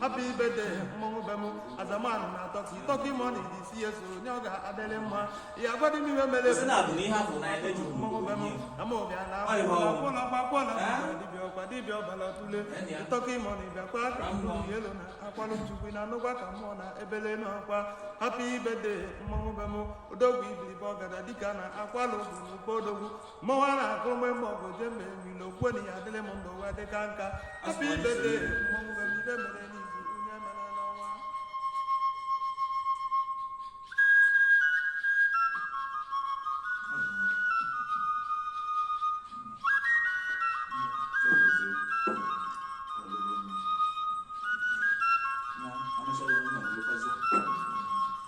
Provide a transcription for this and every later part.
happy birthday mmọnwụ be m azamanụ na tọki tọki mọni dị si ya so onye ọ ga-adịrị mma ya agwadị m ihe mere Sị na abụ na ihe afọ na ebe juru mmọnwụ be m ama ọbịa na Ọ ịhụ ọgwụ. akwụla ọgba akwụla Eh? ọgba dibịa ọka dibịa ọbala tule Enyi ya. tọki mọni bịakwa ka m Mmụọ. elu na akwalụ chukwu na anụgwa ka mmụọ na ebele nụ akwa happy birthday mmọnwụ be m odogwu ibilibe ọgada dịka na akwalụ bụ n'ụba odogwu mmanwụ a na-akụ mgbe mgbe ọgụ je mgbe emilo kwe na ya adịrị m ndụ ụwa dị ka nka happy birthday mmanwụ be m ibe mere n'izu onye mere n'ọnwa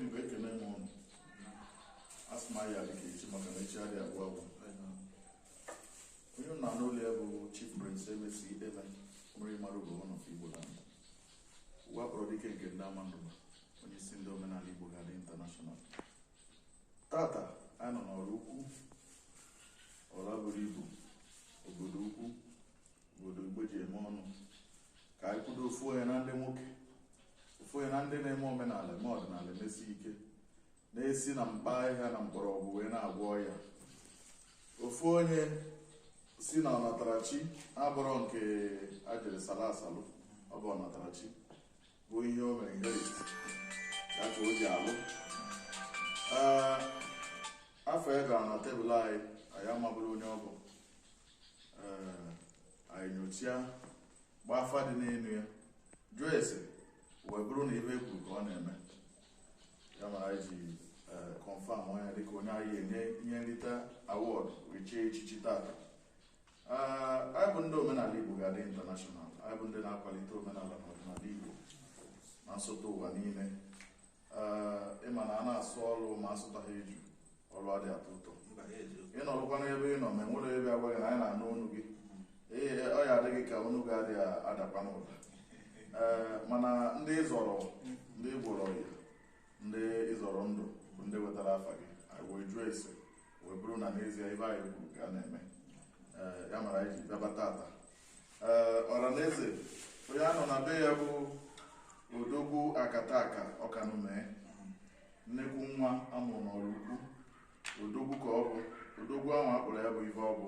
Igbo ekele m ụnụ asị m anyị ga-adị ka echi maka na echi adịghị agwụ agwụ onye a na-anụ olu ya bụ Chief Prince Emesi Ideme mmiri mara ugo one nke Igbo land ụwa kpọrọ dike nke ndị Amandugba onye isi ndị omenala Igbo ga-adị international tata anyị nọ n'Ọraukwu ọra buru ibu obodo ukwu obodo Igbo ji eme ọnụ ka anyị kwudo ofu onye na ndị nwoke ofu onye na ndị na-eme omenala eme ọdịnala emesi ike na-esi na mkpa ahịhịa na mgbọrọgwụ wee na-agwọ ọya ofu onye si na ọnatarachi abụrọ nke ajiri sala asalụ ọ bụ ọnatarachi bụ ihe o mere inherit ya ka o ji alụ afa ya gara na table anyị anyị amabụrọ onye ọ bụ anyị nyochia gbaa afa dị n'elu ya jụọ ese wee bụrụ na ife e kwuru ka ọ na-eme ya mere anyị ji confirm onye dịka onye anyị enye ihe nrite award chie echichi tata anyị bụ ndị omenala igbo ga-adị international anyị bụ ndị na-akwalite omenala na ọdịnala igbo na nsọtụ ụwa niile ịma na a na-asụ ọrụ ma asụtaghị eju ọrụ adị atọ ụtọ ị nọrụkwa n'ebe ị nọ ma enwere ebe agwa gị na anyị na-anụ onu gị ọ ya-adị gị ka onu gị adịghị adakwa n'ụda mana ndị ịzọrọ ndị ị gwọrọ ọya ndị ịzọrọ ndụ bụ ndị wetara afa gị anyị wee jụọ ese wee bụrụ na n'ezie ife anyị kwuru ka a na-eme ya mere anyị ji bịaba tata ọra na eze onye a nọ na be ya bụ odogwu akataka ọkanume nnekwu nwa amụrụ n'Ọraukwu odogwu ka ọ bụ odogwu ahụ akpọrọ ya bụ ife ọ bụ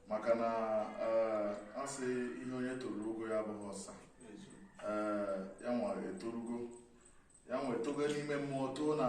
maka na a sị ihe onye toro ogo ya abụghị ọsa ya nwa etorugo ya nwa etogo n'ime mmụọ too na